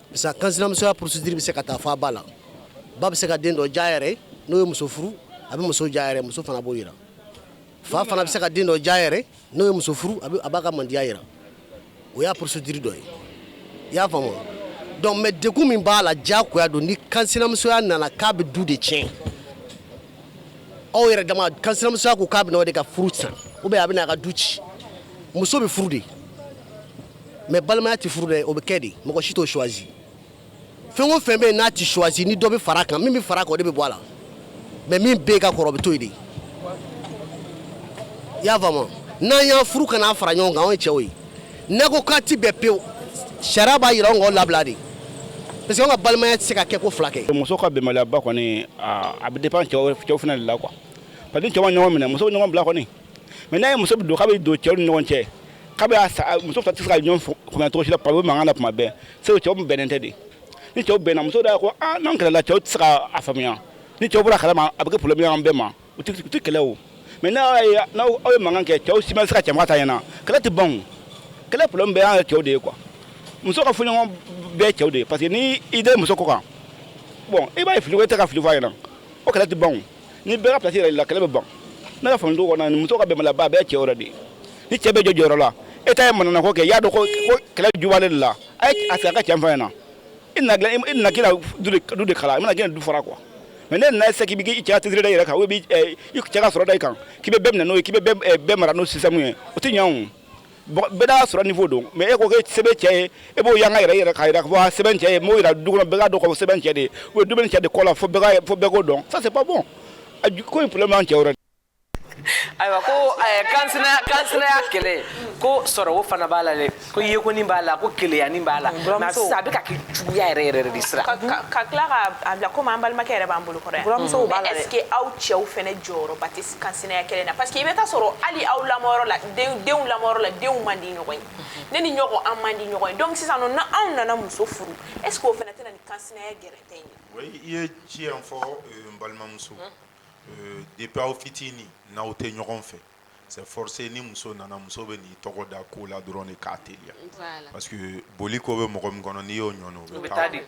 parce que kansinamusoya procédure bɛ se ka taa fo a ba la ba bɛ se ka den dɔ diya a yɛrɛ n'o ye muso furu a bɛ muso diya a yɛrɛ muso fana b'o yira fa fana bɛ se ka den dɔ diya a yɛrɛ n'o ye muso furu a b'a ka mandiya yira o y'a procédure dɔ ye i y'a faamu donc mais degun min b'a la jagoya don ni kansinamusoya nana k'a bɛ du de tiɲɛ aw yɛrɛ dama kansinamusoya ko k'a bɛ na de ka furu sa ou bien a bɛ na a ka du ci muso bɛ furu de mais balimaya tɛ furu dɛ o bɛ kɛ de mɔgɔ si t'o choisi fɛn o fɛn bɛ yen n'a tɛ choisi ni dɔ bɛ fara a kan min bɛ fara a kan o de bɛ bɔ a la mais min bɛ ka kɔrɔ o bɛ to yen de i y'a faamu n'an y'aw furu ka n'aw fara ɲɔgɔn kan anw ye cɛw ye n'aw ko k'aw tɛ bɛn pewu sariya b'a yira anw k'aw labila de parce que anw ka balimaya tɛ se ka kɛ ko fila kɛ. muso ka bɛnbaliyaba kɔni a bɛ dépend cɛw cɛw fana de la quoi parce que ni cɛw ma ɲɔgɔn minɛ muso bɛ ɲɔgɔn bila kɔni mais n'a ye muso don k'a bɛ don cɛw ni ɲɔgɔn cɛ k'a bɛ muso fila tɛ se ka ɲɔgɔn faamuya cogo si la parce que o bɛ mankan na tuma bɛɛ c'est que cɛw bɛnnen tɛ de ni cɛw bɛnna muso da ko ah, n'an kɛlɛla cɛw tɛ se ka a faamuya ni cɛw bɔr'a kalama a bɛ kɛ problème y'an bɛɛ ma u tɛ u tɛ kɛlɛ o mais n'a ye n'aw aw ye mankan kɛ cɛw si ma se ka tiɲɛ f'a ta ɲɛna kɛlɛ tɛ ban o kɛlɛ problème bɛɛ y'an yɛrɛ cɛw de ye quoi muso ka fɔɲɔgɔnkɔ bɛɛ cɛw de ye parce que ni i den muso ko kan bon i b'a ye fili ko i tɛ ka fili fɔ a ɲɛna o kɛlɛ tɛ ban o ni bɛɛ ka place yirala kɛlɛ bɛ ban ne ka faamu ta kɔnɔ muso ka bɛnbaliyaba bɛɛ cɛw yɛrɛ de ye ni cɛ bɛ jɔ jɔyɔrɔ la e ta ye manamana ko kɛ i y'a dɔn ko kɛlɛ ju b'ale de la a ye a sigi a ka tiɲɛ f'a ɲɛna i nana k'i na du de kala i ma na k'i na du fara quoi mais n'e nana se k'i bɛ i cɛ cɛsiri da i yɛrɛ kan ou bien i cɛ ka sɔrɔ da i kan k'i bɛ bɛɛ minɛ n'o ye k'i bɛ bɛɛ mara n'o système ye o tɛ ɲɛ o bɛɛ n'a sɔrɔ niveau don mais e ko se bɛ n cɛ ye e b'o yanga yɛrɛ k'a jira k'a fɔ se bɛ n cɛ ye n b'o jira du kɔnɔ bɛɛ k'a dɔn k'a fɔ se bɛ n cɛ de ye ou du bɛ ne cɛ de kɔ la fo bɛɛ k'o dɔn ça c'est pas bon ko in problème y'an cɛw yɛrɛ ayiwa ko kan kansinaya kɛlɛ ko sɔrɔ o fana b'a la dɛ ko yekonin b'a la ko keleyanin b'a la a bɛ ka kɛ juguya yɛrɛ yɛrɛ de sira ka tila k'a bila komi an balimakɛ yɛrɛ b'an bolo kɔrɔ yan mais est ce que aw cɛw fana jɔyɔrɔ kansinaya kɛlɛ na parce que i bɛ taa sɔrɔ hali aw lamɔyɔrɔ la denw lamɔyɔrɔ la denw man di ɲɔgɔn ye ne ni n dɔgɔ an man di ɲɔgɔn ye donc sisan o n'anw nana muso furu est ce que o fana tɛ na ni kansinaya gɛrɛntɛ in ye oui i ye tiɲɛ fɔ euh, n balimamuso euh, depuis aw fitini n'aw tɛ ɲɔgɔn fɛ c'est forcé ni muso nana muso bɛ n'i tɔgɔ da ko la dɔrɔn de k'a teliya parce que boli ko bɛ mɔgɔ min kɔnɔ n'i y'o ɲɔni o bɛ taa de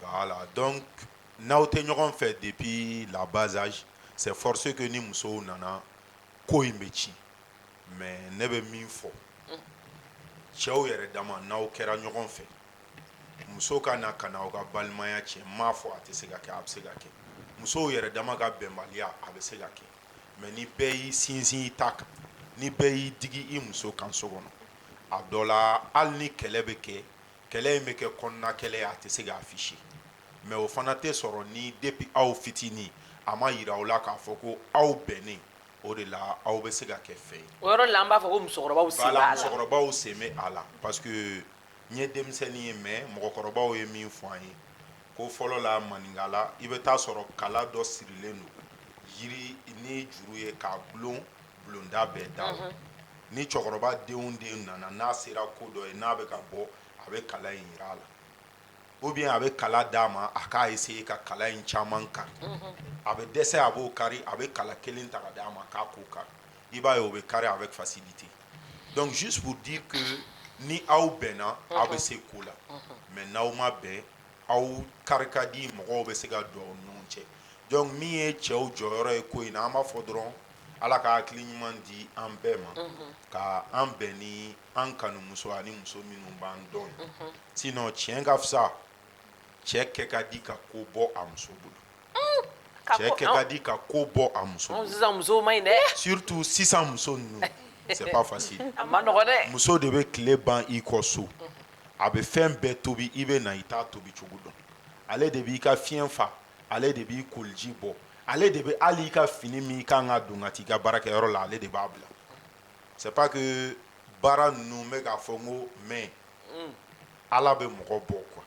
voilà donc n'aw tɛ ɲɔgɔn fɛ depuis la bas âge c'est forcé que ni musow nana ko in bɛ ci mais ne bɛ min fɔ cɛw yɛrɛ dama n'aw kɛra ɲɔgɔn fɛ muso ka na ka na aw ka balimaya tiɲɛ n m'a fɔ a tɛ se ka kɛ a bɛ se ka kɛ musow yɛrɛ dama ka bɛnbaliya a bɛ se ka kɛ mais ni bɛɛ y'i sinsin i ta kan ni bɛɛ y'i digi i muso kan so kɔnɔ a dɔ la hali ni kɛlɛ bɛ kɛ kɛlɛ in bɛ kɛ kɔnɔna kɛlɛ ye a tɛ se k'a afficher mais o fana tɛ sɔrɔ ni depuis aw fitinin a ma jira aw la k'a fɔ ko aw bɛnnen o de la aw bɛ se ka kɛ fɛn ye o yɔrɔ la an b'a fɔ ko musokɔrɔba musokɔrɔbaw sen bɛ a la parce que n ye denmisɛnnin ye mais mɔgɔkɔrɔbaw ye min fɔ an ye ko fɔlɔ la maninkala i bɛ taa sɔrɔ kala dɔ sirilen don jiri ni juru ye k'a dulon bulonda bɛɛ da la ni cɛkɔrɔba den o den nana n'a sera ko dɔn ye n'a bɛ ka bɔ a bɛ kala in jira a la ou bien a bɛ kala d'a ma a ka essayer ka kala in caman kari a bɛ dɛsɛ a b'o kari a bɛ kala kelen ta k'a d'a ma k'a k'o kari i b'a ye o bɛ kari avec facilité donc juste pour dire que ni aw bɛnna aw bɛ se ko la mais n'aw ma bɛn aw kari ka di mɔgɔw bɛ se ka don aw ni ɲɔgɔn cɛ donc min ye cɛw jɔyɔrɔ ye ko in na an b'a fɔ dɔrɔn Ala ka hakili ɲuman di an bɛɛ ma ka an bɛn ni an kanumuso ani muso minnu b'an dɔn sinon tiɲɛ ka fisa cɛ kɛ ka di ka ko bɔ a muso bolo cɛ kɛ ka di ka ko bɔ a muso surtout sisan muso ninnu c'est pas facile muso de bɛ tile ban i kɔ so a bɛ fɛn bɛɛ tobi i bɛ na i t'a tobi cogo dɔn ale de b'i ka fiɲɛ fa ale de b'i koliji bɔ ale de bɛ hali i ka fini min i kan ka don ka t'i ka baarakɛyɔrɔ la ale de b'a bila c'est pas que baara ninnu bɛ k'a fɔ n ko mais mm. ala bɛ mɔgɔ bɔ quoi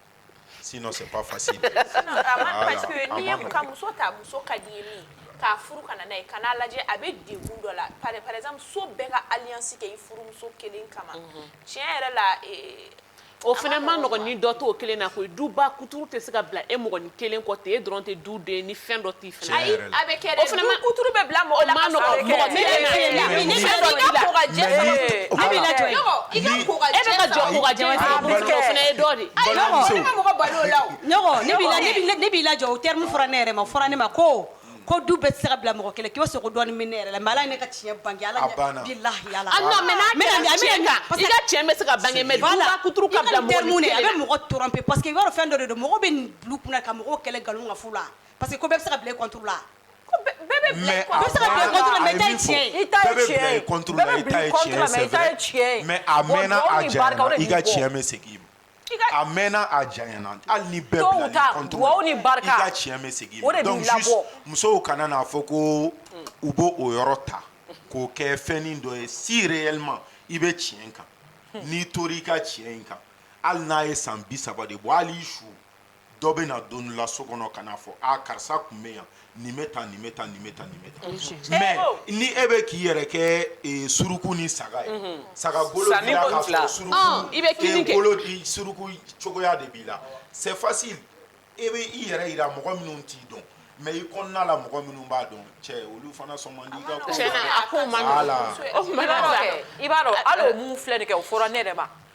sinon c'est pas facile parce que n'i y'i ka muso ta muso ka d'i ye min k'a furu ka na n'a ye ka n'a lajɛ a bɛ degun dɔ la par exemple so bɛɛ ka alliance kɛ i furumuso kelen kama mhm. tiɲɛ yɛrɛ la eh, O fana ma nɔgɔn ni dɔ t'o kelen na koyi duba kuturu tɛ se ka bila e mɔgɔnin kelen kɔ ten e dɔrɔn tɛ du den ni fɛn dɔ tɛ fana ayi a bɛ kɛ kuturu bɛ bila mɔgɔ la mɔgɔ bɛ jɔ e bɛ jɔ o terme fɔra ne yɛrɛ ma fɔra ne ma ko ko du bɛ sira bila mɔgɔ kelen k'i sogo dɔn min ne yɛrɛ la maa ne ka tiɲɛ ban ala la mɔgɔ tora pe pa que yɔrɔ fɛn dɔ don mɔgɔ bɛ kunna ka mɔgɔ kɛlɛ nkalon ka la pa que bɛ se la bɛɛ cɛ mɛ a mɛnna a janyana hali ni bɛɛ bila ta dugawu ni barika i ka tiɲɛ bɛ segin o de b'i labɔ donc juste musow kana n'a fɔ ko u b'o o yɔrɔ ta k'o kɛ fɛnnin dɔ ye si réellement i bɛ tiɲɛ kan n'i tor'i ka tiɲɛ in kan hali n'a ye san bi saba de bɔ hali i su dɔ bɛ na don la so kɔnɔ ka fɔ karisa tun bɛ yan nin bɛ taa nin bɛ taa nin bɛ taa nin mɛ ni e bɛ k'i yɛrɛ kɛ suruku ni saga ye saga i bɛ suruku cogoya de b'i la sɛfasi e bɛ i yɛrɛ yi mɔgɔ minnu t'i dɔn mɛ i kɔnɔna la mɔgɔ minnu b'a dɔn cɛ olu fana sɔn i b'a dɔn filɛ kɛ o fɔra ne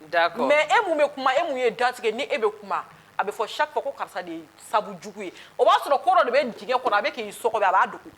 D'accord. Mais e mun bɛ kuma e mun ye datigi ye ni e bɛ kuma a bɛ fɔ chaque fois ko karisa de ye sabu jugu ye o b'a sɔrɔ ko dɔ de bɛ dingɛ kɔnɔ a bɛ k'i sɔgɔbɛ a b'a dogo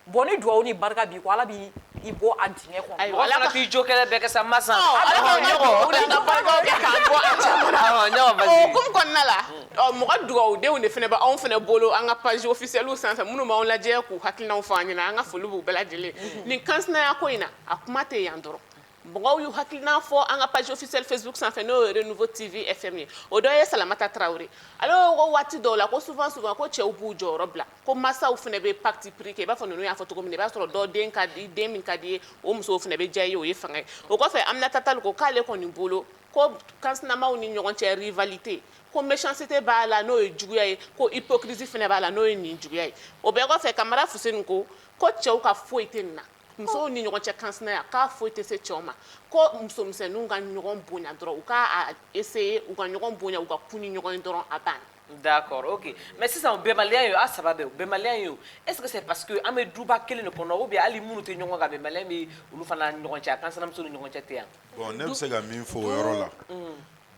bon ni dugawu ni barika b'i kɔ ala b'i bɔ a dingɛ kɔnɔ. Ayiwa ala k'i jo kɛlɛ bɛɛ kɛ sa masa. Ala k'an kɛ dugawuden ye, ka barikaw kɛ k'an bɔ a caman na. Awɔ, ne ma basi. O hukumu kɔnɔna la ɔ mɔgɔ dugawudenw de fana bɛ anw fana bolo an ka page officielle sanfɛ minnu b'anw lajɛ k'u hakilinaw fɔ an ɲɛna an ka foli b'u bɛɛ lajɛlen ye nin kansinaya ko in na a kuma tɛ yan dɔrɔn. mɔgɔw y'u hakilina fɔ an ka page officielle facebook sanfɛ n'o ye renouveau tv fm ye o dɔ ye salamata tarawele ale ko waati dɔw la ko souvent souvent ko cɛw b'u jɔyɔrɔ bila ko masaw fana bɛ parti pris kɛ i b'a fɔ ninnu y'a fɔ cogo min na i b'a sɔrɔ dɔ den ka di den min ka di ye o musow fana bɛ diya i ye o ye fanga ye o kɔfɛ aminata tali ko k'ale kɔni bolo ko kansinamaw ni ɲɔgɔn cɛ rivalité ko méchanceté b'a la n'o ye juguya ye ko hypocrisie fana b'a la n'o ye nijuguya ye o bɛɛ kɔfɛ kamara fuseni ko ko cɛw ka foyi tɛ nin na Musow ni ɲɔgɔn cɛ kansinaya k'a foyi tɛ se cɛw ma ko musomisɛnninw ka ɲɔgɔn bonya dɔrɔn u k'a essayer u ka ɲɔgɔn bonya u ka kun ni ɲɔgɔn dɔrɔn a ban d'accord ok mais sisan bɛnbaliya in a sababu bɛnbaliya in est ce que c'est parce que an bɛ duba kelen de kɔnɔ ou bien hali minnu tɛ ɲɔgɔn kan bɛnbaliya bɛ olu fana ɲɔgɔn cɛ a kansinamuso ni ɲɔgɔn cɛ tɛ yan bon ne bɛ se ka min fɔ o yɔrɔ la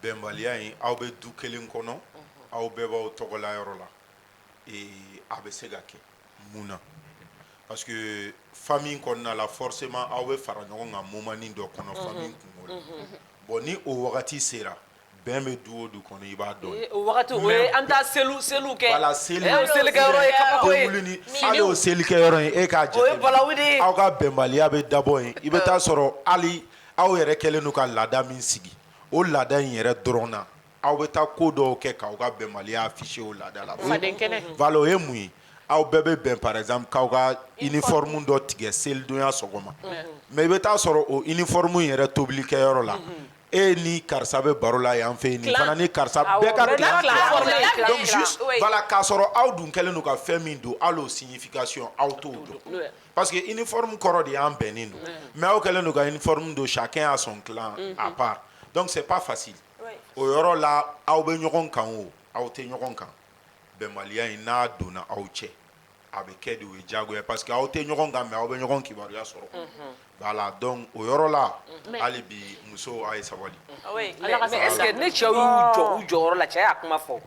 bɛnbaliya in aw bɛ du kelen kɔnɔ aw bɛɛ b'aw tɔgɔla yɔrɔ la a bɛ se ka kɛ mun na parce que famille kɔnɔna la forcément aw bɛ fara ɲɔgɔn kan moment dɔ kɔnɔ famille kunko la bon ni o wagati sera bɛn bɛ du o du kɔnɔ i b'a dɔn ye seli an taa seli selikɛyɔrɔ ye aw ka bɛnbaliya bɛ dabɔ yen i bɛ taa sɔrɔ hali aw yɛrɛ kɛlen don ka laada min sigi o laada in yɛrɛ dɔrɔn na Aw bɛ taa ko dɔw kɛ k'aw ka bɛnbaliya afficher o laada la, faden kɛnɛ, voila o ye mun ye aw bɛɛ bɛ bɛn par exemple k'aw ka uniforme dɔ tigɛ selidonya sɔgɔma mais i bɛ taa sɔrɔ o uniforme in yɛrɛ tobilikɛyɔrɔ la e ni karisa bɛ baro la yan fɛ yen nin fana ni karisa bɛɛ ka clan dilan donc juste voila k'a sɔrɔ aw dun kɛlen don ka fɛn min don hali o signification aw t'o dɔn parce que uniforme kɔrɔ de y'an bɛnnen don mais aw kɛlen don ka uniforme don chacun a son clan à part donc c'est pas facile o yɔrɔ la aw bɛ ɲɔgɔn kan o aw tɛ ɲɔgɔn kan bɛnbaliya in n'a donna aw cɛ a bɛ kɛ de o ye diyagoya parce que aw tɛ ɲɔgɔn kan mais aw bɛ ɲɔgɔn kibaruya sɔrɔ voilà donc o yɔrɔ la hali bi musow a ye sabali mais est-ce que ni cɛw y'u jɔ u jɔyɔrɔ la cɛ y'a kuma fɔ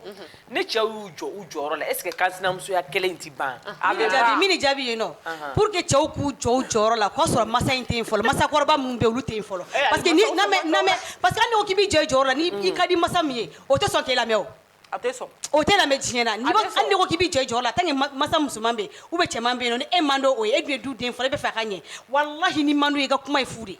ni cɛw y'u jɔ u jɔyɔrɔ la est ce que kansinamusoya kɛlɛ in tɛ ban a bɛ jaabi min ne jaabi ye non pour que cɛw k'u jɔ u jɔyɔrɔ la k'a sɔrɔ masa in tɛ yen fɔlɔ masakɔrɔba minnu bɛ olu tɛ yen fɔlɔ eh, parce que ni na mɛ na mɛ parce que hali n'i ko k'i b'i jɔ i jɔyɔrɔ la ni mm. i ka di masa min ye o tɛ sɔn k'e lamɛn o a tɛ sɔn o tɛ lamɛn diɲɛ na n'i hali n'i ko k'i b'i jɔ i jɔyɔrɔ la tant que masa musoman bɛ yen ou bien cɛman bɛ yen non ni e man d'o ye e dun ye du den fɔlɔ e b'a fɛ a ka ɲɛ walahi n'i man d'o ye i ka kuma ye fu de ye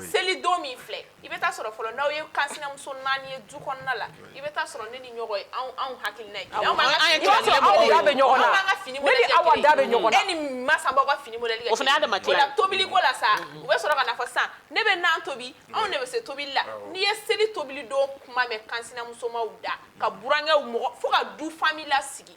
seli don min filɛ i bɛ taa sɔrɔ fɔlɔ n'aw ye kansinamuso naani ye du kɔnɔna la i bɛ taa sɔrɔ ne ni ɲɔgɔn ye anw hakilina ye aw bɛ ɲɔgɔn na ka fini aw da bɛ ɲɔgɔn e ni masa b'aw ka fini modèle kɛ o fana ma la tobili ko la sa u bɛ sɔrɔ ka n'a fɔ sisan ne bɛ nan tobi anw de bɛ se tobili la n'i ye seli tobili don kuma mɛn kansinamusomaw da ka burankɛw mɔgɔ fo ka du famille lasigi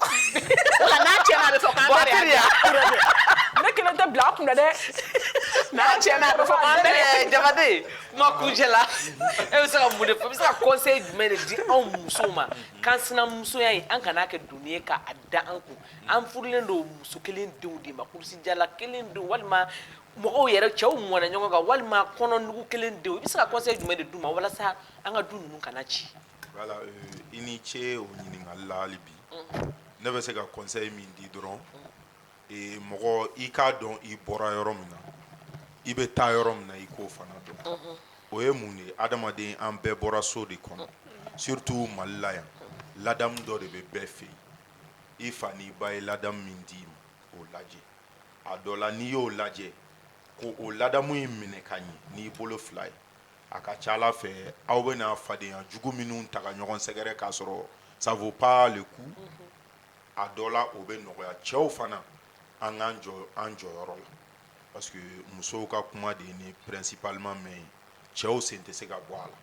Wa n'a tiɲɛna a bɛ fɔ k'an bɛɛ de y'a ne kelen tɛ bila a kun dɛ n'a tiɲɛna a bɛ fɔ k'an bɛɛ de Jabate kuma kuncɛ la e bɛ se ka mun de fɔ e bɛ se ka conseil jumɛn de di anw musow ma k'an sinamusoya in an kana a kɛ doni ye k'a da an kun an furulen don muso kelen denw de ma kurusijala kelen denw walima mɔgɔw yɛrɛ cɛw mɔna ɲɔgɔn kan walima kɔnɔnugu kelen denw i bɛ se ka conseil jumɛn de d'u ma walasa an ka du ninnu kana ci Voilà, euh, i ni ce o ɲininkali la hali bi ne bɛ se ka conseil min di dɔrɔn ee, mɔgɔ i k'a dɔn i bɔra yɔrɔ min na i bɛ taa yɔrɔ min na i k'o fana dɔn o ye mun de ye adamaden an bɛɛ bɔra so de kɔnɔ surtout Mali la yan ladamu dɔ de bɛ bɛɛ fɛ yen i fa n'i ba ye ladamu min d'i ma o lajɛ a dɔ la n'i y'o lajɛ ko o ladamu in minɛ ka ɲɛ n'i bolo fila ye A ka ca a la fɛn aw bɛna fadenya jugu minnu ta ka ɲɔgɔn sɛgɛrɛ k'a sɔrɔ ça vaut pas le coup a dɔ la o bɛ nɔgɔya cɛw fana an k'an jɔ an jɔyɔrɔ la parce que musow ka kuma de ni principalement mais cɛw sen tɛ se ka bɔ a la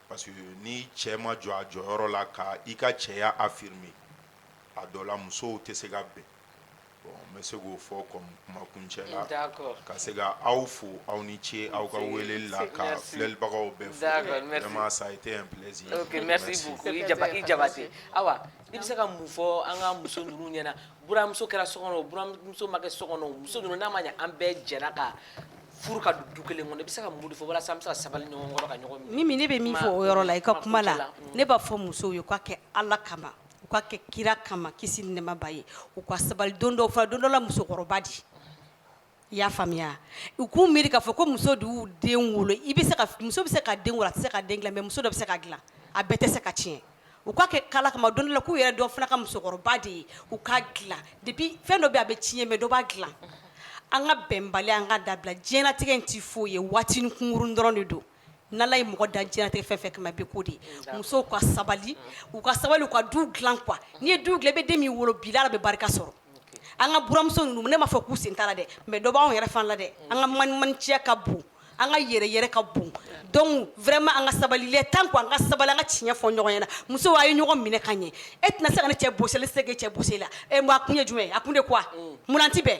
parce que ni cɛ ma jɔ a jɔyɔrɔ la ka i ka cɛya affirmer a dɔ la musow tɛ se ka bɛn bɛ se k'o fɔ comme kuma kuncɛ la ka se ka aw fo aw ni ce aw ka weleli la ka filɛlibagaw bɛɛ fo vraiment ça a été un plaisir ok merci beaucoup i Jabate ayiwa i bɛ se ka mun fɔ an ka muso ninnu ɲɛna buramuso kɛra so kɔnɔ buramuso ma kɛ so kɔnɔ muso ninnu n'a ma an bɛɛ jɛra ka furu ka du kelen kɔnɔ i bɛ se ka mun de fɔ walasa an bɛ se ka sabali ɲɔgɔn kɔrɔ ka ɲɔgɔn minɛ Mimi ne bɛ min fɔ o yɔrɔ la i ka kuma la ne b'a fɔ musow ye u k'a kɛ Ala kama u k'a kɛ kira kama kisi ni nɛɛma b'a ye u ka sabali don dɔ fana don dɔ la musokɔrɔba de i y'a faamuya u k'u miiri k'a fɔ ko muso de y'u den wolo i bɛ se ka muso bɛ se ka den wolo a tɛ se ka den dilan mais muso dɔ bɛ se k'a dilan a bɛɛ tɛ se ka tiɲɛ u k'a kɛ Ala kama don dɔ la k'u yɛrɛ dɔn fana ka musokɔrɔba de ye u k'a dilan depuis fɛn dɔ bɛ a bɛ tiɲɛ mais dɔ b'a dilan an ka bɛnbali an k'a dabila diɲɛlatigɛ in tɛ foyi ye waati kunkurun dɔrɔn de don ni Ala ye mɔgɔ dan diɲɛlatigɛ fɛn o fɛn kama i bɛ k'o de ye, un, d'accord, musow ka sabali, u ka sabali u ka du dilan quoi n'i ye du dilan i bɛ den min wolo bi la Ala bɛ barika sɔrɔ, ok, an ka buranmuso ninnu ne m'a fɔ k'u sen t'a la dɛ mais dɔ b'anw yɛrɛ fana la dɛ, un, an ka manimaninciya ka bon, an ka yɛrɛ-yɛrɛ ka bon, un, donc vraiment an ka sabali il est temps quoi an ka sabali an ka tiɲɛ fɔ ɲɔgɔn ɲɛna musow a ye ɲɔgɔn minɛ ka ɲɛ e tɛna se ka ne cɛ bɔsi ale tɛ se k'e cɛ bɔsi e la ɛ bon a kun ye jumɛn ye a kun de quoi mun na an tɛ bɛn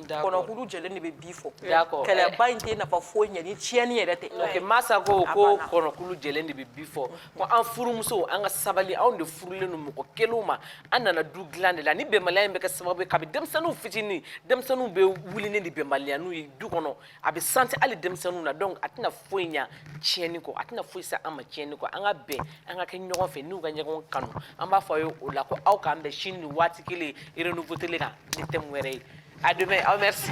kɔnɔkulu jɛlen de bɛ bi fɔ kɛlɛba in tɛ nafa foyi ɲɛ ni tiɲɛni yɛrɛ tɛ Masa ko ko kɔnɔkulu jɛlen de bɛ bi fɔ ko an furumusow an ka sabali anw de furulen don mɔgɔ kelenw ma an nana du dilan de la ni bɛnbaliya in bɛ kɛ sababu ye kabi denmisɛnninw fitinin denmisɛnninw bɛ wuli de ni bɛnbaliya ninnu ye du kɔnɔ a bɛ santi hali denmisɛnninw na donc a tɛna foyi ɲa tiɲɛni kɔ a tɛna foyi se an ma tiɲɛni kɔ an ka bɛn an ka kɛ ɲɔgɔn fɛ n'u ka ɲɔgɔn kanu an b'a fɔ aw ye o la ko aw k'an bɛn sini nin waati kelen renouveau télé kan ni thème wɛrɛ ye à demain aw merci